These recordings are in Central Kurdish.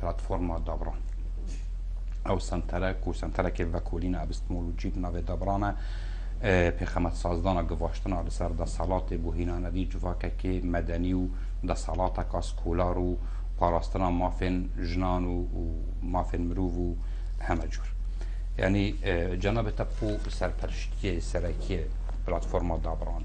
پلاتفۆرمە دابڕان ئەو سەنتەرە کو سەنتەرە کێ ڤەکۆلینە ئەبستمۆلوجیک ناوێ دابڕانە پێخەمەت سازدانە گەڤاشتنا لەسەر دەسەڵاتی بۆ هینانەدی جڤاکەکێ مەدەنی و دەسەڵاتە کاسکۆلار و پاراستنا مافێن ژنان و مافێن مرۆڤ و هەمە جور یعنی جەنابێتە بۆ سەرپەرشتیە سەرەکیە پلاتفۆرمە دابڕان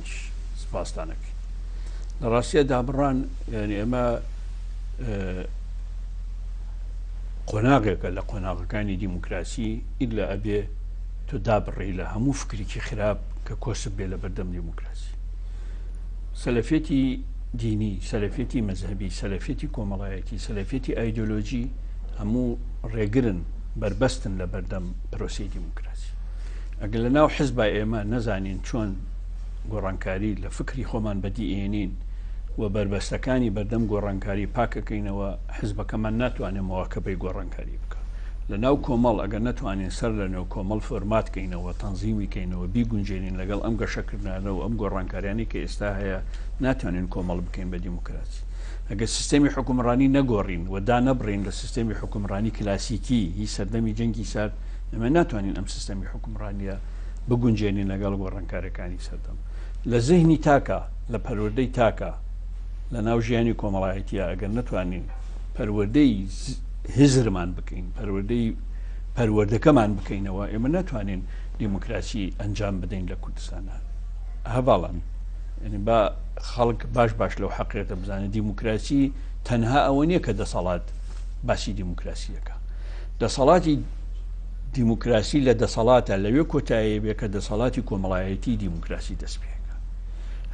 سپاستان ئەکەین لە ڕاستیە دابڕان یعنی ئەمە قۆناغێکە لە قۆناغەکانی دیموکراسی ئیلا ئەبێ تۆ دابڕی لە هەموو فکرێکی خراپ کە کۆسب بێ لە بەردەم دیموکراسی سەلفێتی دینی سەلفێتی مەذهبی سەلفێتی کۆمەڵایەتی سەلفێتی ئایدۆلۆژی هەموو ڕێگرن بربەستن لە بەردەم پرۆسی دیموکراسی ئەگەر لە ناو حزبا ئێمە نەزانین چۆن گۆڕانکاری لە فکری خۆمان بەدیئێنین و بەربەستەکانی بەردەم گۆڕانکاری پاکەکەینەوە حزبەکەمان ناتوانێت مواکەپەی گۆڕانکاری بکە لە ناو کۆمەڵ ئەگەر نەتوانین سەر لە نێو کۆمەڵ فۆرمات کەینەوە تەنزیمی کەینەوە بیگونجێنین لەگەڵ ئەم گەشەکردانە و ئەم گۆڕانکاریانی کە ئێستا هەیە ناتوانین کۆمەڵ بکەین بە دیموکراسی ئەگەر سیستەمی حکومڕانی نەگۆڕین و دانەبڕین لە سیستەمی حکومڕانی کلاسیکی هی سەردەمی جەنگی سارد ئەمە ناتوانین ئەم سیستەمی حکومڕانیە بگونجێنین لەگەڵ گۆڕانکارەکانی سەردەم لە زهنی تاکە لە پەروەردەی تاکە لە ناو ژیانی کۆمەڵایەتە ئەگەر نتوانین پەروەردەی هزرمان بکەین پەروەردەی پەروەردەکەمان بکەینەوە ئێمە ناتوانین دیموکراسی ئەنجام بدەین لە کوردستانە هەواڵان ینی با خەڵک باش باش لەو حەقێتە بزانێت دیموکراسی تەنها ئەوە نییە کە دەسەڵات باسی دیموکراسیەکە دەسەڵاتی دیموکراسی لە دەسەڵاتە لەوێ کۆتایی بێ کە دەسەڵاتی کۆمەڵایەتی دیموکراسی دەست پێەکە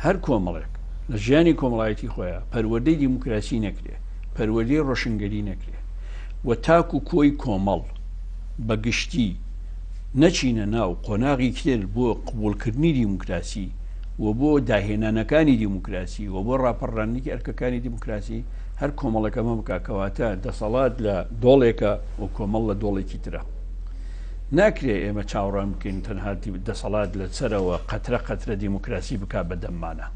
هەر کۆمەڵێک لە ژیانی کۆمەڵایەتی خۆیان پەروەدەی دیموکراسی نەکرێ پەروەدەی ڕۆشنگەری نەکرێ و تاک و کۆی کۆمەڵ بە گشتی نەچینە ناو قۆناغی تر بۆ قبولکردنی دیموکراسی و بۆ داهێنانەکانی دیموکراسی و بۆ ڕاپەڕاندنی ئەرکەکانی دیموکراسی هەر کۆمەڵێک ئەمە بکا کەواتە دەسەڵات لە دۆڵێکە و کۆمەڵ لە دۆڵێکی ترە ناکرێ ئێمە چاوڕان بکەین تەنها دەسەڵات لە سەرەوە قەترە قەترە دیموکراسی بکا بە دەممانە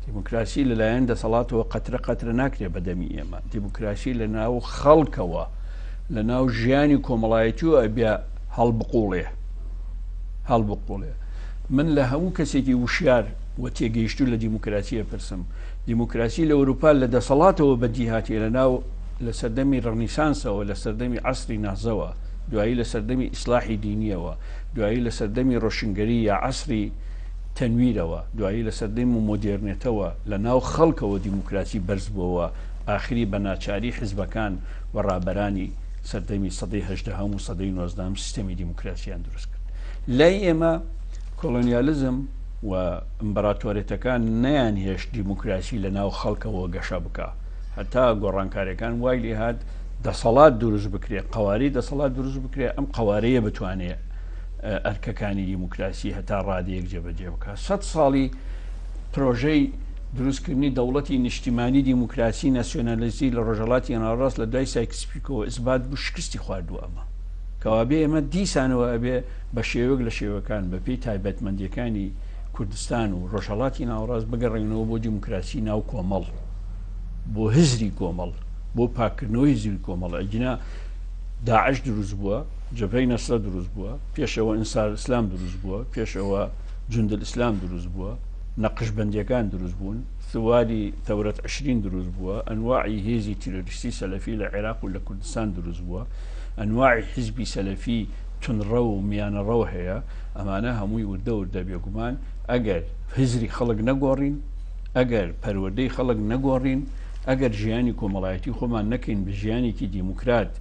دیموکراسی لەلایەن دەسەڵاتەوە قەترە قەترە ناکرێ بەدەمی ئێمە دیموکراسی لە ناو خەڵکەوە لە ناو ژیانی کۆمەڵایەتی و ئەبیا هەڵبقوڵێ هەڵبقوڵێ من لە هەموو کەسێکی وشیار و تێگەیشتو لە دیموکراسیە پرسم دیموکراسی لە ئورووپا لە دەسەڵاتەوە بەدی هاتیە لە ناو لە سەردەمی ڕنیسانسەوە لە سەردەمی عەسری نازەوە دوایی لە سەردەمی ئیسلاحی دینیەوە دوایی لە سەردەمی ڕۆشنگەری یا عەسری تەنویرەوە دوایی لە سەردەمی مۆدێرنێتەوە لە ناو خەڵکەوە دیموکراسی بەرز بۆوە ئاخری بە ناچاری حزبەکان و ڕابەرانی سەردەمی سەدەی هەژدەهەم و سەدەی نۆزدەهەم سیستەمی دیموکراسیان دروست کرد لای ئێمە کۆلۆنیالزم و ئمبراتۆرێتەکان نەیانهێشت دیموکراسی لە ناو خەڵکەوە گەشە بکا هەتا گۆڕانکارەکان وای لێ هات دەسەڵات دروست بکرێ قەوارەی دەسەڵات دروست بکرێ ئەم قەوارەیە بتوانێ ئەرکەکانی دیموکراسی هەتا ڕادەیەک جێبەجێ بکە سە ساڵی پرۆژەی دروستکردنی دەوڵەتی نیشتیمانی دیموکراسی ناسیۆنالیزی لە ڕۆژەڵاتی ناڕاست لە دوای سایکسپیکۆ ئیسبات بوو شکستی خواردوو ئەمە کەوابێ ئێمە دیسانەوە ئەبێ بە شێوەک لە شێوەکان بە پێی تایبەتمەندیەکانی کوردستان و ڕۆژهڵاتی ناوەڕاست بگەڕێنەوە بۆ دیموکراسی ناو کۆمەڵ بۆ هزری کۆمەڵ بۆ پاکردنەوەی زوی کۆمەڵ ئەگینا داعش دروست بووە جبهەی نەسرە دروست بووە پێشەوە ئینسار ئسلام دروست بووە پێشەوە جندل ئسلام دروست بووە نەقشبندەکان دروست بوون سواری تەورەت عشرین دروست بووە ئەنواعی هێزی تیرۆریستی سەلەفی لە عێراق و لە کوردستان دروست بووە ئەنواعی حیزبی سەلەفی توندڕەو و میانەڕەو هەیە، ئەمانە هەمووی وردە وردە بێگومان ئەگەر هزری خەڵک نەگۆڕین، ئەگەر پەروەردەی خەڵک نەگۆڕین، ئەگەر ژیانی کۆمەڵایەتی خۆمان نەکەین بە ژیانێکی دیموکرات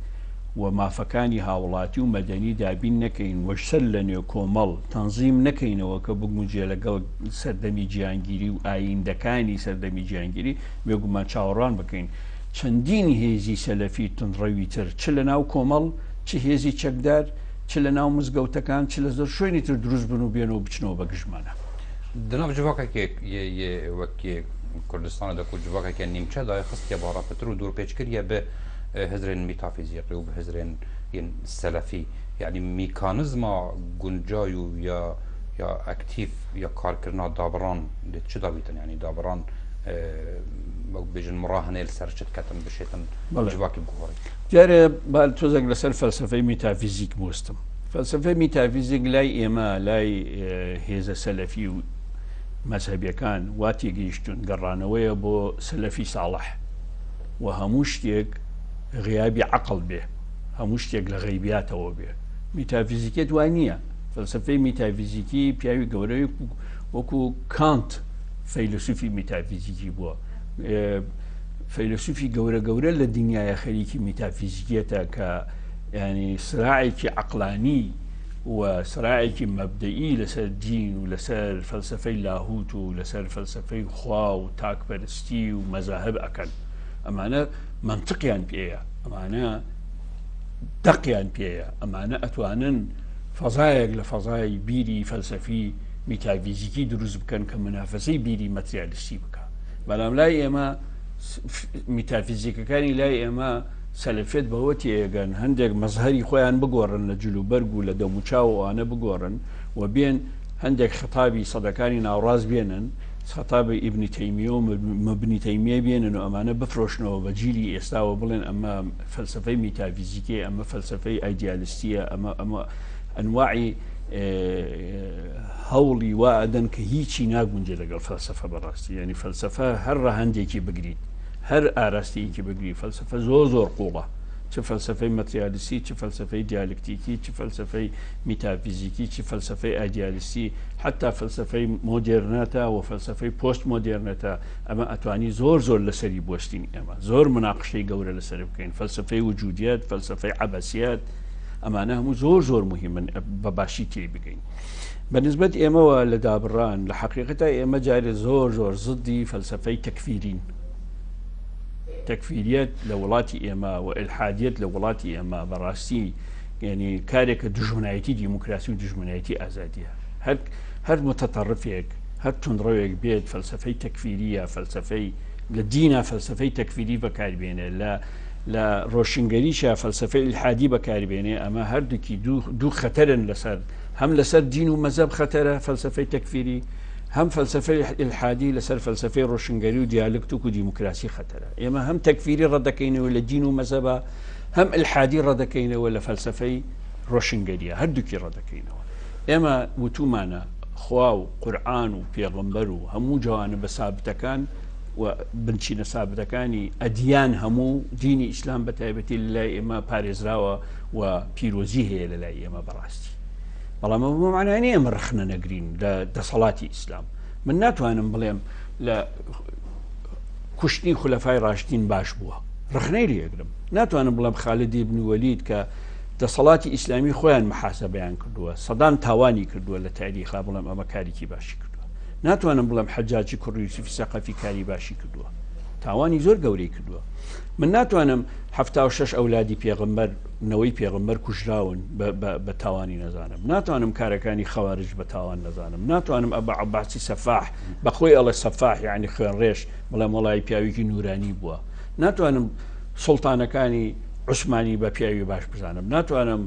و مافەکانی هاوڵاتی و مەدەنی دابین نەکەین و سەر لە نوێ کۆمەڵ تەنزیم نەکەینەوە کە بگونجێ لەگەڵ سەردەمی جیهانگیری و ئایندەکانی سەردەمی جیهانگیری بێگومان چاوەڕوان بکەین چەندین هێزی سەلەفی توندڕەوی تر چ لە ناو کۆمەڵ، چ هێزی چەکدار، چ لە ناو مزگەوتەکان، چ لە شوێنی تر دروست بن و بێنەوە بچنەوە بە گژمانە. دناو جڤاکەکێک یە یە وەک یە کوردستانە دەکوو جڤاکەکێ نیمچە دایە خستیە باڕە پتر و دوور پێچ کریە بە هزرێن میتافیزیقی و بە هزرێن یەن سەلەفی یەعنی میکانزما گونجای و یە یە ئەکتیڤ یە کارکرنا دابڕان دێت چ دابیتن یەعنی دابڕان وەک بێژن مڕاهنێل سەرچت کەتم بشێتم جوواکی بگۆڕی جارێ بال تۆزێک لەسەر فەلسفەی میتافیزیک بستم فەلسفەی میتافیزیک لای ئێمە لای هێزە سەلەفی و مەذهبیەکان وا تێگەیشتون گەڕانەوەیە بۆ سەلەفی ساڵح و هەموو شتێک غیابی عقل بێ هەموو شتێک لە غەیبیاتەوە بێ میتافیزیکێت وای نییە فەلسفەی میتافیزیکی پیاوی گەورەی وەکو کانت فەیلەسوفی میتافیزیکی بووە. فەیلەسوفی گەورە گەورە لە دنیاە خەریکی میتافیزیکیەتە کە ینی سراعێکی عقلانی و سراعێکی مەبدەئی لەسەر دین و لەسەر فەلسفەی لاهوت و لەسەر فەلسفەی خوا و تاکپەرستی و مەزاهب ئەەکەن ئەمانە منطقیان پێەیە ئەمانە دەقیان پێەیە ئەمانە ئەتوانن فەزایەک لە فەزای بیری فەلسفی میتافیزیکی دروست بکەن کە منافەسەی بیری مەتریالیستی بکە بەڵام لای ئێمە میتافیزیکەکانی لای ئێمە سەلفێت بەوە تێگەن هەندێک مەزهری خۆیان بگۆڕن لە جلو بەرگ و لە دەموچاو ئەوانە بگۆڕن و بێن هەندێک خەتابی سەدەکانی ناوڕاز بێنن خەتابی ئیبنی تەیمیە و مبنی تەیمیە بێنن و ئەمانە بفرۆشنەوە بە جیلی ئێستاوە بڵێن ئەمە فەلسفەی میتافیزیکێ ئەمە فەلسفەی ئایدیالستیە ئەمە ئەمە ئەنواعی هەوڵی وا ئەدەن کە هیچی ناگونجێ لەگەڵ فەلسەفە بەڕاستی یانی فەلسەفە هەر ڕەهەندێکی بگریت هەر ئاراستەیەکی بگری فەلسەفە زۆر زۆر قوڵە چ فەلسەفەی مەتریالیستی چ فەلسەفەی دیالکتیکی چ فەلسەفەی میتافیزیکی چ فەلسەفەی ئایدیالیستی حتا فەلسەفەی مۆدێرنەتە و فەلسەفەی پۆست مۆدێرنەتە ئەمە ئەتوانی زۆر زۆر لەسەری بستین ئێمە زۆر مناقشەی گەورە لەسەر بکەین فەلسەفەی وجودیت فەلسەفەی عبەسیت ئەمانە هەموو زۆر زۆر مهمن بە باشی تێی بگەین بە نسبت ئێمەوە لە دابڕان لە حقیقتا ئێمە جارێ زۆر زۆر زدی فەلسفەی تەکفیرین تەکفیریت لە وڵاتی ئێمە و ئلحادیت لە وڵاتی ئێمە بەڕاستی یعنی کارێکە دژمنایەتی دیموکراسی و دژمنایەتی ئازادیە هەر هەر متتەڕفێک هەر تونڕەوێک بێت فەلسفەی تەکفیریە فەلسفەی لە دینا فەلسفەی تەکفیری بەکاربیێنێ لە لە ڕۆشنگەریشا فەلسەفەی ئیلحادی بەکاری بێنێ ئەمە هەردووکی دوو خەتەرن لەسەر هەم لەسەر دین و مەزەب خەتەرە فەلسەفەی تەکفیری هەم فەلسەفەی ئیلحادی لەسەر فەلسەفەی ڕۆشنگەری و دیالکتوک و دیموکراسی خەتەرە ئێمە هەم تەکفیری ڕەدەکەینەوە لە دین و مەزەبە هەم ئلحادی ڕەدەکەینەوە لە فەلسەفەی ڕۆشنگەریە هەردووکی ڕەدەکەینەوە ئێمە وتومانە خوا و قورآن و پێغمبەر و هەموو جوانە بە سابتەکان و بنچینە سابتەکانی ئەدیان هەموو و دینی ئیسلام بە تایبەتی لە لای ئێمە پارێزراوە و پیرۆزی هەیە لە لای ئێمە بەڕاستی بەڵام ئەمە بۆ معنای نییە ئێمە ڕەخنە نەگرین لە دەسەڵاتی ئیسلام من ناتوانم بڵێم لە کوشتنی خولەفای ڕاشتین باش بووە ڕخنەی لێگرم ناتوانم بڵێم خالدی بن وەلید کە دەسەڵاتی ئیسلامی خۆیان محاسەبیان کردووە سەدان تاوانی کردووە لە تاریخا بڵێم ئەمە کارێکی باشی کردووە ناتوانم بڵێم حەجاجی کوڕ یوسفی سەقەفی کاری باشی کردووە تاوانی زۆر گەورەی کردووە من ناتوانم هەفتا و شەش ئەولادی پێغمبەر نەوەی پێغمبەر کوژراون بە تاوانی نەزانم ناتوانم کارەکانی خەوارج بە تاوان نەزانم ناتوانم ئەبە عباسی سەفاح بەخۆی ئەڵە سەفاح یعنی خوێن ڕێش بڵێ مۆڵایی پیاوێکی نورانی بووە ناتوانم سڵتانەکانی عوسمانی بە پیاوی باش بزانم ناتوانم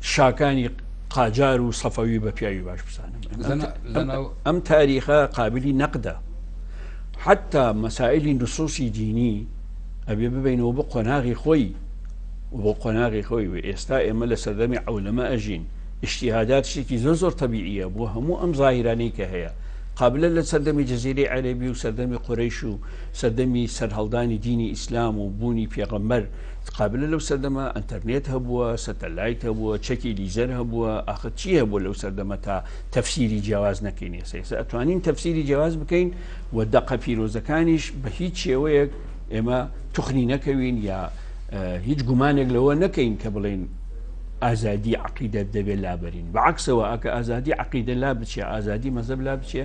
شاکانی قاجار و سەفەوی بە پیاوی باش بزانم ئەم تاریخە قابلی نەقدە حتا مەسائلی نوسوسی دینی ئەبێ ببینەوە بۆ قۆناغی خۆی بۆ قۆناغی خۆی و ئێستا ئێمە لە سەردەمی ئەولەمە ئەژین ئیشتیهادات شتێکی زۆر زۆر تەبیعە بۆ هەموو ئەم زاهیرانەی کە هەیە قابلە لە سەردەمی جززیری عەربی و سەردەمی قورەیش و سەردەمی سەرهەڵدانی دینی ئیسلام و بوونی پێغەمبەر قابلە لەو سەردەمە ئەنتەرنێت هەبووە سەتەلایت هەبووە چەکی لیزەر هەبووە ئاخر چی هەبوو لەو سەردەمە تا تەفسیری جیاواز نەکەین ێسا ێسا ئەتوانین تەفسیری جیاواز بکەین و دەقە پیرۆزەکانیش بە هیچ شێوەیەک ئێمە توخنی نەکەوین یا هیچ گومانێک لەوە نەکەین کە بڵێن ئازادی عقیدە دەبێت لابەرین بەعکسەوە ئەکە ئازادی عقیدە لا بچێ ئازادی مەزەب لا بچێ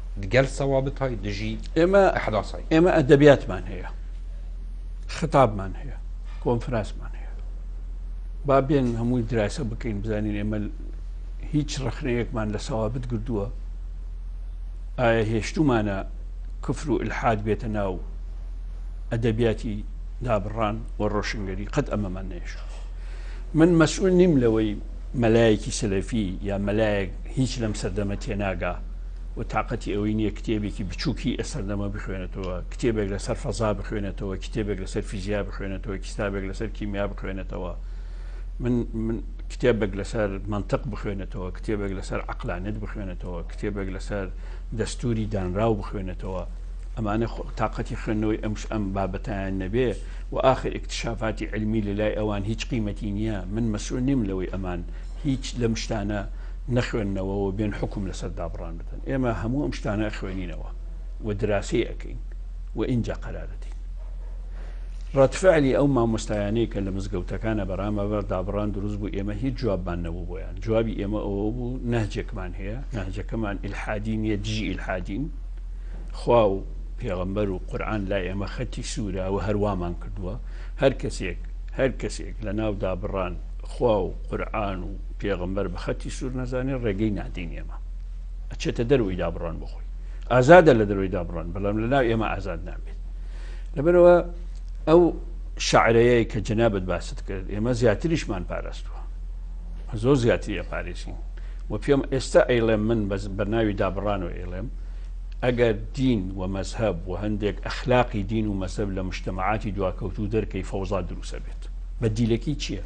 دگەل سەوابتای دژی ئێمە حداسای ئێمە ئەدەبیاتمان هەیە خطابمان هەیە کۆنفراسمان هەیە با بێن هەمووی دراسە بکەین بزانین ئێمە هیچ ڕخنەیەکمان لە سەوابت گردووە ئایا هێشتومانە کفر و الحاد بێتە ناو ئەدەبیاتی دابڕان و ڕۆشنگەری قەت ئەمەمان نێش من مەسئول نیم لەوەی مەلایەکی سەلەفی یا مەلایەک هیچ لەم سەردەمە تێناگا و تااقەتی ئەوەی نییە کتێبێکی بچووکی ئە سەردەمە بخوێنێتەوە کتێبێک لەسەر فەزا بخوێنێتەوە کتێبێک لەسەر فیزیا بخوێنێتەوە کیستابێک لەسەر کیمیا بخوێنێتەوە من من کتێبێک لەسەر منطق بخوێنێتەوە کتێبێک لەسەر عقلانێت بخوێنێتەوە کتێبێک لەسەر دەستوری دانراو بخوێنێتەوە ئەمانە تااقەتی خوێندنەوەی ئەمش ئەم بابەتیان نەبێ و آخر اکتشافاتی علمی لە لای ئەوان هیچ قیمەتی نییە من مەسو نیم لەوەی ئەمان هیچ لەم شتانە نەخوێننەوەوە بێن حوکم لەسەر دابڕان بدەن ئێمە هەموو ئەم شتانە ئەخوێنینەوە و دراسی ئەەکەین و ئینجا قەرارەدەین ڕەتفعلی ئەو مامۆستایانەی کە لە مزگەوتەکانە بەرامە بەر دابڕان دروست بوو ئێمە هیچ جوابمان نەبوو بۆیان جوابی ئێمە ئەوە بوو نەهجێکمان هەیە نەهجەکەمان ئیلحادی نیە دژی ئیلحادین خوا و پێغەمبەر و قورآن لا ئێمە خەتی سوورە و هەروامان کردووە هەر کەسێک هەر کەسێک لە ناو دابڕان خوا و قورآن و پێغەمبەر بە خەتی سوور نەزانێ ڕێگەی نادەین ئێمە ئەچێتە دەروی دابڕان بخۆی ئازادە لە دەروی دابڕان بەڵام لە ناو ئێمە ئازاد نابێت لەبەرەوە ئەو شعرەیە کە جەنابەت باست کرد ئێمە زیاتریشمان پاراستووە زۆر زیاتری ئەپارێزین و پێم ئێستا ئەیڵێم من بەس بەناوی دابڕان و ئێڵێم ئەگەر دین و مەذهب و هەندێک ئەخلاقی دین و مەسەب لە مشتەمەعاتی دواکەوتو دەرکەی فەوزا دروسە بێت بە دیلەکی چییە؟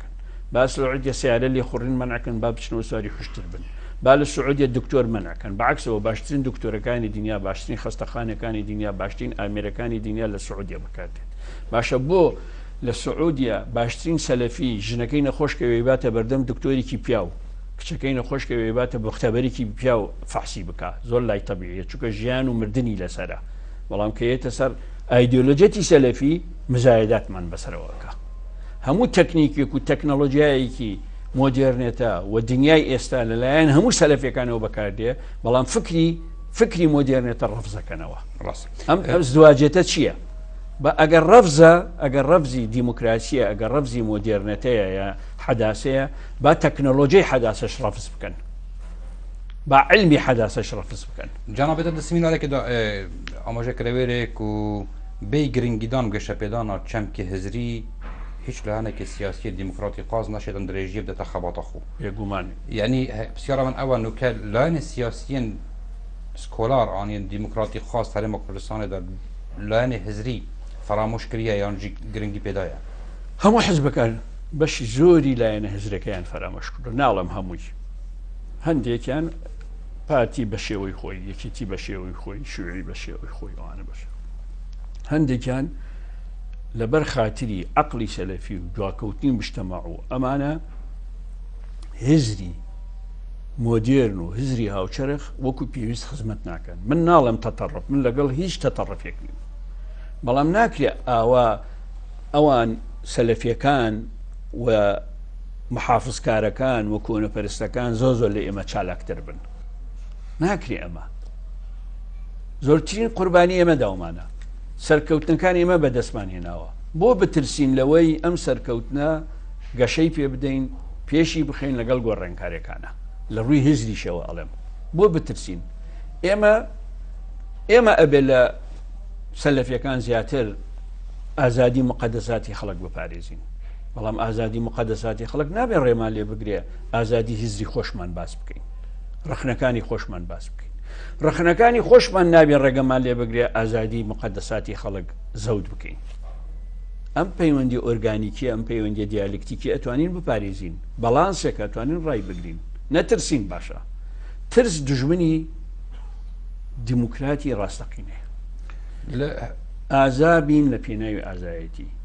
کەن با سعودیە سیارە لێ خوڕین مەنع کەن با بچنەوە سواری حشتر بن با لە سعودیە دکتۆر مەنع کەن بەعکسەوە باشترین دکتۆرەکانی دنیا باشترین خەستەخانەکانی دنیا باشترین ئامێرەکانی دنیا لە سعودیە بەکاردێت باشە بۆ لە سعودیە باشترین سەلەفی ژنەکەی نەخۆشکەوێ باتە بەردەم دکتۆریکی پیاو کچەکەی نەخۆشکەوێ باتە بختەبەرێکی پیاو فەحسی بکە زۆر لای تەبیە چونکە ژیان و مردنی لەسرە بەڵام کە یەتە سەر ئایدۆلۆجێتی سەلەفی مزایداتمان بەسەرەوەکە هەموو تەکنیکێک و تەکنەڵۆجیایەکی مۆدێرنێتە و دنیای ئێستا لەلایەن هەموو سەلەفەکانەوە بەکاردێ بەڵام فکری فکری مۆدێرنێتە ڕفزەکەنەوە ئەم زدواجێتە چییە؟ بە ئەگەر ڕەفزە ئەگەر ڕەفزی دیموکراسیە ئەگەر ڕەفزی مۆدێرنەتەیە یا حەداسەیە با تەکنەلۆژیی حەداسەش ڕەفز بکەن با علمی حەداسەش ڕەفز بکەن جانا بێتە دەسمینارێکدا ئاماژە کرەوێرێک و بێ گرنگیدان گەشەپێدانا چەمکی هزری هیچ لایەنێکی سیاسیی دیموکراتی قاز نەشێدن درێژیی بدەتە خەباتە خۆ. بێگومان. یەعنی پرسیارە من ئەوە نوکە لایەنێ سیاسییەن سکۆلار ئانیەن دیموکراتی قاز هەرێمە کوردستانێ دا لایەنێ هزری فەرامۆش کریە یان ژی گرنگی پێدایە؟ هەموو حزبەکان بەشی زۆری لایەنە هزرەکەیان فەرامۆش کردوە، ناڵێم هەمووی، هەندێکیان، پارتی بە شێوەی خۆی یەکێتی بە شێوەی خۆی شوێنی بە شێوەی خۆی ئەوانە بەش هەندێکیان لەبەر خاتری عقلی سەلەفی و دواکەوتنی مشتەما و ئەمانە هزری مۆدیرن و هزری هاوچەرخ وەکو پێویست خزمەت ناکەن من ناڵم تەتەڕف من لەگەڵ هیچ تەتەڕفێک نیم بەڵام ناکرێت ئاوا ئەوان سەلەفیەکان و محافزکارەکان و کۆنەپەرستەکان زۆر زۆر لە ئێمە چالاکتر بن ناکرێ ئەمە زۆرترین قوربانی ئێمە داومانە سەرکەوتنەکان ئێمە بەدەستمان هێناوە بۆ بترسین لەوەی ئەم سەرکەوتنە گەشەی پێ بدەین پێشی بخین لەگەڵ گۆڕێنکارەکانە لە ڕووی هزریشەوە ئەڵێم بۆ بترسین ئێمە ئێمە ئەبێ لە سەلەفیەکان زیاتر ئازادی مقدساتی خەڵک بپارێزی بەڵام ئازادی مقدەساتی خەڵک نابێ ڕێمان لێ بگرێ ئازادی هزری خۆشمان باس بکەین ڕخنەکانی خۆشمان باس بکەین ڕخنەکانی خۆشمان نابێ ڕێگەمان لێ بگرێ ئازادی مقدەساتی خەڵک زەوت بکەین ئەم پەیوەندی ئۆرگانیکی ئەم پەیوەندی دیالکتیکی ئەتوانین بپارێزین بەڵانسێکە توانین ڕای بگرین نەترسین باشە ترس دژمنی دیموکراتی ڕاستەقینەیە لە ئازابین لە پێناوی ئازایەتی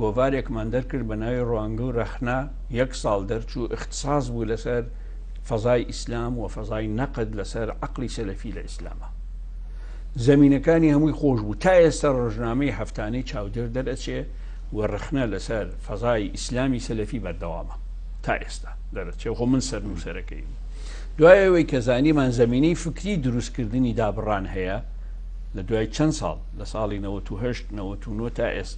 گۆڤارێکمان دەرکرد بە ناوی ڕوانگە و ڕەخنە یەک ساڵ دەرچوو ئیختساس بوو لەسەر فەزای ئیسلام و فەزای نەقد لەسەر عەقڵی سەلەفی لە ئیسلامە زەمینەکانی هەمووی خۆش بوو تا ئێستا ڕۆژنامەی هەفتانەی چاودێر دەرەچێ و ڕەخنە لەسەر فەزای ئیسلامی سەلەفی بەردەوامە تا ئێستا دەرەچێ خۆ من سەر نووسەرەکەیم دوای ئەوەی کە زانیمان زەمینەی فکری دروستکردنی دابڕان هەیە لە دوای چەند ساڵ لە ساڵی 1970 تا ئێستا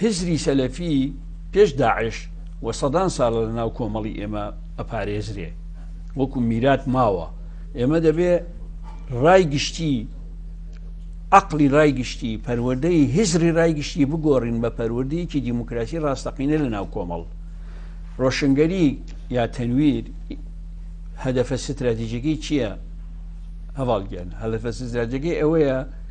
هزری سەلەفی پێش داعش و سەدان سالە لە ناو کۆمەڵی ئێمە ئەپارێزرێ وەکو میرات ماوە ئێمە دەبێ ڕای گشتی عقلی ڕای گشتی پەروەدەی هزری ڕای گشتی بگۆڕین بە پەروەدەیەکی دیموکراسی ڕاستەقینە لە ناو کۆمەڵ ڕۆشنگەری یا تەنویر هەدەفە ستراتیژەکەی چییە؟ هەواڵگیان هەڵفە سزراجەکەی ئەوەیە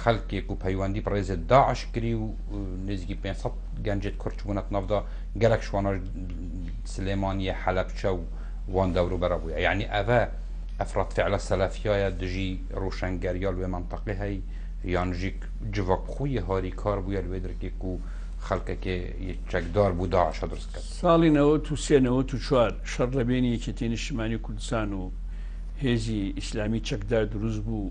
خەلکێک و پەیوەندی بڕێزێت داعش کری و نزیکی پێنج سەد گەنجێت کورد چبوونەت نەفدا گەلەک شوانەش سلێمانیە حەلەبچە و وان دەورو بەرە بووە یعنی ئەە ئەفرەت فعلە سەلەفیایە دژی ڕوشەنگەریا لێ منطقی هەی یانژیک جڤاک خوی هاری کار بووە لێ درکێک و خەلکەکێ چەکدار بوو داعشە درست کرد ساڵی نەوە تو سێ نەوە و چوار شەڕ لە بێنی یەکێتی نیشتمانی کوردستان و هێزی ئیسلامی چەکدار دروست بوو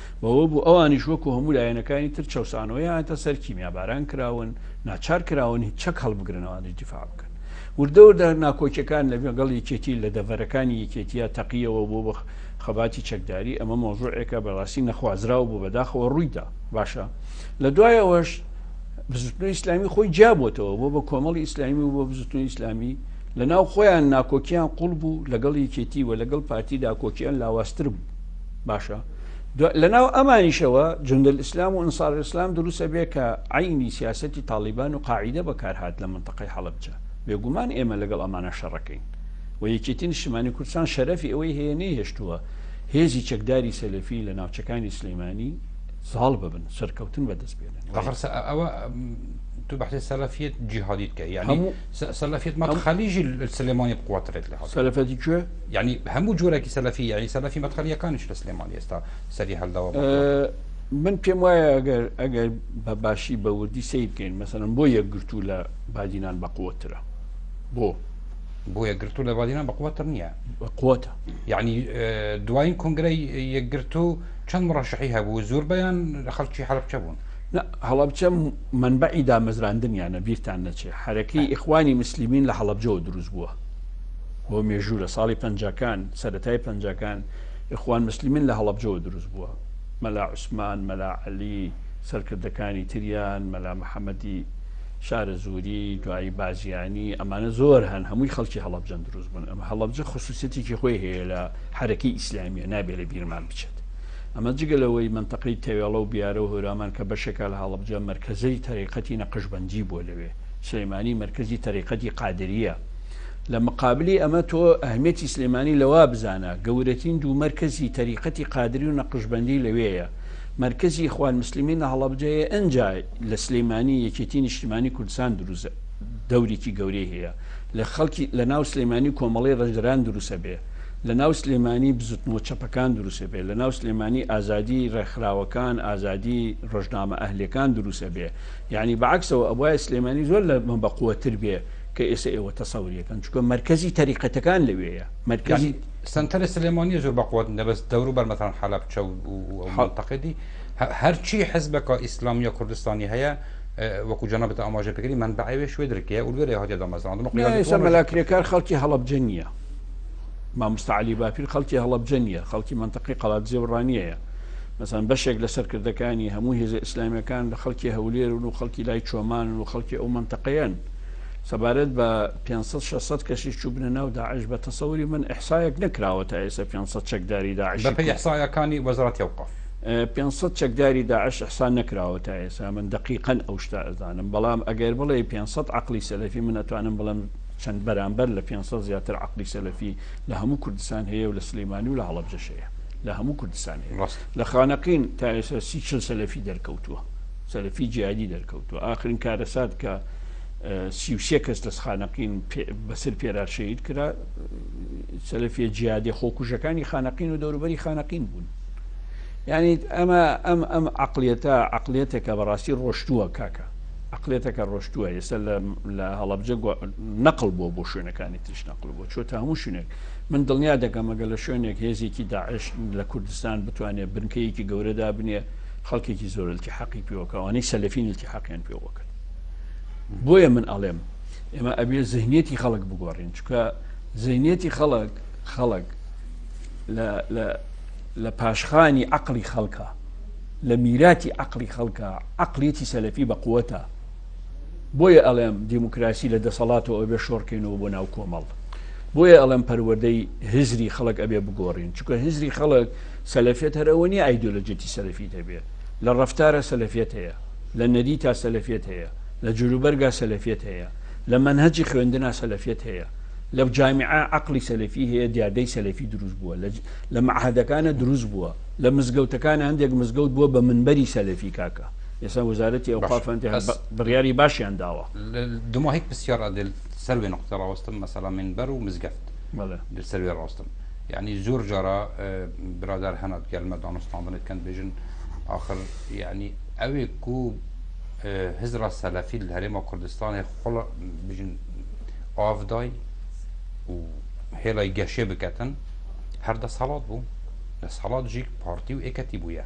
بەوە بوو ئەوانیش وەکو هەموو لایەنەکانی تر چەوسانەوەیانتە سەر، کیمیاباران کراون، ناچار کراون چەک هەڵبگرن ئەوانیش دیفاع بکەن. وردە وردە ناکۆکیەکان لەگەڵ یەکێتی لە دەڤەرەکانی یەکێتیە تەقیەوە بۆ بە خەباتی چەکداری، ئەمە مەوزوعێکە بەڕاستی نەخوازراو بوو بەداخەوە ڕوویدا. باشە لە دوای ئەوەش بزوتنەوەی ئیسلامی خۆی جیا بۆتەوە بۆ بە کۆمەڵی ئیسلامی و بۆ بزوتنەوەی ئیسلامی، لە ناو خۆیان ناکۆکیان قوڵ بوو، لەگەڵ یەکێتی و لەگەڵ پارتی داکۆکیان لاوازتر بوو. باشە دو لەناو ئەمانیشەوە جندل ئیسلام و ئەنسار ئیسلام دروستە بێ کە عینی سیاستی تاڵیبان و قاعدە بەکارهات لە منتەقەی حەڵبجە بێگومان ئێمە لەگەڵ ئەمانە شەڕەکەین و یەکێتی نیشتمانی کوردستان شەرەفی ئەوەی هەیە نەیهێشتووە هێزی چەکداری سەلەفی لە ناوچەکانی سلەیمانی زاڵ ببن سەرکەوتن بەدەست بێنن ئەوە تو بەحث سەلەفیت جیهادیت کە یعنی سەلەفیت مەدخەلیژی سلێمانی بقوترێت لە سەلەفەتی کوێ یانی هەموو جۆرەکی سەلەفی یانی سەلەفی مەدخەلیەکانیش لە سلێمانی ئێستا سەری هەلداوە بەخۆ. من پێم وایە ئەگەر ئەگەر بە باشی بە وردی سیر بکەین مەسەرم بۆ یەکگرتو لە بادینان بەقوترە بۆ بۆ یەکگرتو لە بادینان بەقوتر نییە بەقوتە یعنی دوایین کنگرەی یەکگرتو چەند مڕەشحی هەبوو زۆر بەیان خەڵکی حەلبچە بوون هەڵبچە منبعی دامەزراندنیانە بیرتان نەچێ حرەکەی ئیخوانی مسللمین لە هەڵبجەوە دروست بووە بۆ مێژوو لە ساڵی پەنجەکان سەتای پەنجەکان یخوان مسللمین لە هەڵبجەوە دروست بووە مەلا عوسمان مەلا عەلی سەرکردەکانی تریان مەلا محەممەدی شارە زووری دوایی بازیانی ئەمانە زۆر هەن هەمووی خەڵکی هەڵبجەن دروست بوون ئەمە هەڵبجە خصوصەتێکی خۆی هەیە لە حرەکەی ئیسلامیە نابێ لە بیرمان بچێت ئەمە جگە لەوەی منتەقەی تەوێڵە و بیارە و هۆرامان کە بەشێکە لە هەڵبجە مرکزی تەریقەتی نەقشبندی بووە لەوێ سلیمانی مەرکەزی تەریقەتی قادریە لە مقابلی ئەمە تۆ ئەهمیەتی سلێمانی لەوا بزانە گەورەترین دوو مەرکەزی تەریقەتی قادری و نەقشبندی لەوێیە مەرکەزی خوان مسللمی نە هەڵەبجەیە ئەجا لە سلەیمانی یەکێتی نیشتیمانی کوردستان دروست دەورێکی گەورەی هەیە لە خەڵکی لە ناو سلەیمانی کۆمەڵی ڕژدران دروستە بێ لە ناو سلێمانی بزوتنەوە چەپەکان دروستە بێ لە ناو سلێمانی ئازادی ڕێکخراوەکان ئازادی ڕۆژنامە ئەهلەکان دروستە بێ یانی بە عەکسەوە ئەبوایە سلێمانی زۆر لەمە بە قوەت تر بێ کە ئێسە ئێوە تەسەوری ئەکەن چونکە مەرکەزی تەریقەتەکان لەوێیە مەرکەزی سەنتەری سلێمانیە زۆر بە قوەت نیە بەس دەورو بەر مەسەلەن حەلەبچە و ئەو مەنتەقەدی هەرچی حزبەکە ئیسلامیە کوردستانی هەیە وەکو جەنابت ئاماژە پێکردی من بە ئەوێ شوێ درکەیە و لێرە هاتێ دامەزراندم ئێستا مەلا کرێکار خەڵکی هەڵەبجە نییە مامۆستا عەلی باپیر خەڵکی هەڵەبجە نییە خەڵکی مەنتەقەی قەڵادزێ و ڕانیەیە مەسەن بەشێک لە سەرکردەکانی هەموو هێزە ئیسلامیەکان لە خەڵکی هەولێرون و خەڵکی لای چۆمانن و خەڵکی ئەو منتەقەیەن سەبارەت بە 500 600 کەسی چوبنە ناو داعش بە تەسەوری من ئحسایەک نەکراوە تا ئێستا 500 چەکداری داعش بە پێی ئحسایەکانی وەزارەتی ئەوقاف 500 چەکداری داعش ئحسا نەکراوە تا ئێسا من دقیقەن ئەو شتا ئەزانم بەڵام ئەگەر بڵێ 500 عقلی سەلەفی من ئەتوانم بڵم چەند بەرامبەر لە 500 زیاتر عقلی سەلەفی لە هەموو کوردستان هەیە و لە سلیمانی و لە هەڵەبجەش هەیە لە هەموو کوردستان هەیە ڕاست لە خانەقین تا ئێستا سی چل سەلەفی دەرکەوتووە سەلەفی جیادی دەرکەوتووە ئاخرین کارەسات کە سی و سێ کەس لە خانەقین بەسەر پێرا شەید کرا سەلەفیە جیادی خۆکوژەکانی خانەقین و دەوروبەری خانەقین بوون یعنی ئەمە ئەم ئەم عقلەتە عقلەتێکە بەڕاستی ڕۆشتووە کاکە عقلێتەکە ڕۆشتووە ئێستا لە هەڵبجە نەقل بووە بۆ شوێنەکانی تریش نەقل بۆ چۆتە هەموو شوێنێک من دڵنیا دەکەم ئەگەر لە شوێنێک هێزێکی داعش لە کوردستان بتوانێت بنکەیەکی گەورە دابنێ خەڵکێکی زۆر التیحاقی پێوەکە ئەوانەی سەلەفین التیحاقیان پێوەکەن بۆیە من ئەڵێم ئێمە ئەبێ زهنیەتی خەڵک بگۆڕین چکە زینیەتی خەڵک خەڵک لە پاشخانی عقلی خەڵکە لە میراتی عقلی خەڵکە عقلێتی سەلەفی بە قوتە بۆیە ئەڵێم دیموکراسی لە دەسەڵاتەوە ئەبێ شۆڕکەینەوە بۆ ناو کۆمەڵ بۆیە ئەڵێم پەروەدەی هزری خەڵک ئەبێ بگۆڕین چکە هزری خەڵک سەلفێت هەرەوە نیە ئایدۆلۆجێتی سەلفیت هەبێ لە ڕفتارە سەلفێت هەیە لە نەدی تا سەلفێت هەیە لە جلوبەرگا سەلفێت هەیە لە منهجی خوێندنا سەلفێت هەیە لە جامیعە عقلی سەلفی هەیە دیاردەی سەلفی دروست بووە لە معهدەکانە دروست بووە لە مزگەوتەکانە هەندێک مزگەوت بووە بە منبەری سەلفی کاکە ئێستا وەزارەتی ئەوقافیان تێ هەست بڕیاری باشیان داوە دوماهی پرسیار ئەدل سەروێ نقطە ڕاوستم مەسەلا منبەر و مزگەفت دل سەروێ ڕاستم یعنی زۆر جارە برادار هەنات گەلمە دانوستاندنێت کەند بێژن آخر یعنی ئەوێ کو هزرا سەلەفی لە هەرێما کوردستانی خۆڵ بژن ئاڤدای و هێڵای گەشێ بکەتن هەر دەسەڵات بوو دەسەڵات ژیک پارتی و ئێکەتی بووە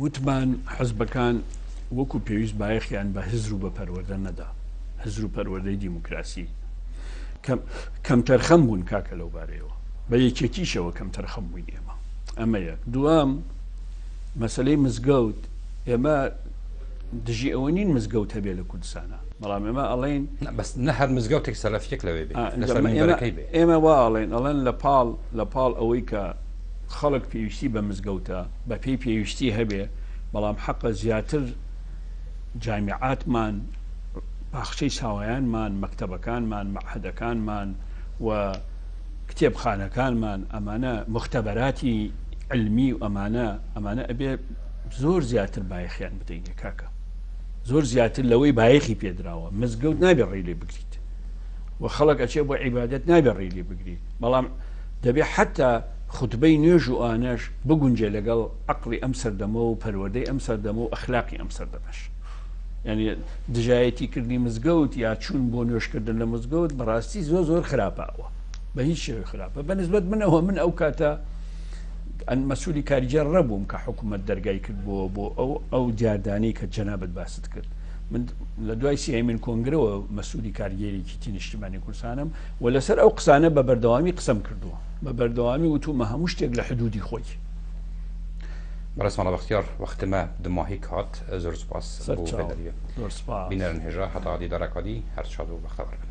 وتمان حزبەکان وەکو پێویست بایەخیان بە هزر و بە پەروەردە نەدا هزر و پەروەردەی دیموکراسی کەمتەرخەم بوون کاکە لەو بارەیەوە بە یەکێکیشەوە کەمتەرخەم بووین ئێمە ئەمە یەک دوام مەسلەی مزگەوت ئێمە دژی ئەوە نین مزگەوت هەبێ لە کوردستانە بەڵام ئێمە ئەڵین بەس نە هەر مزگەوتێک سەلەفیەک لەوێ بێ ئێمە واڵێن ئەڵەن لە پاڵ لە پاڵ ئەوەی کە خەڵک پێویستی بە مزگەوتە بە پێی پێویستی هەبێ بەڵام حەقە زیاتر جامیعاتمان باخچەی ساوایانمان مەکتەبەکانمان مەعهدەکانمان و کتێبخانەکانمان ئەمانە مختبەراتی علمی و ئەمانە ئەمانە ئەبێ زۆر زیاتر بایەخیان بدەینێ کاکە زۆر زیاتر لەوەی بایەخی پێدراوە مزگەوت نابێ ڕێ لێ بگریت و خەڵک ئەچێ بۆ عیبادت نابێ ڕێ لێ بگری بەڵام دەبێ حەتتا خوتبەی نوێژ و ئانەش بگونجێ لەگەڵ عەقڵی ئەم سەردەمە و پەروەردەی ئەم سەردەمە و ئەخلاقی ئەم سەردەمەش. یانی دژایەتی کردنی مزگەوت یا چوون بۆ نوێژکردن لە مزگەوت بەڕاستی زۆر زۆر خراپە ئەوە. بە هیچ شێوەی خراپە. بە نسبەت منەوە من ئەو کاتە ئەن مەسوولی کاریگەر ڕەبووم کە حکوومەت دەرگای کردبووە بۆ ئەو ئەو دیاردانەی کە جەنابت باست کرد. من لە دوای سێیەمین کۆنگرەوە مەسوولی کارگێریی ی نیشتیمانی کوردستانم و لەسەر ئەو قسانە بە بەردەوامی قسەم کردووە بە بەردەوامی وتومە هەموو شتێک لە حدودی خۆی. بەڕێز مەلا بەختیار وەختمە دماهی کات زۆر سوپاس بۆ بەدەریە بینەرن هێژا هەتا دی دەرەکادی هەر شاد و بەختەوەر بن.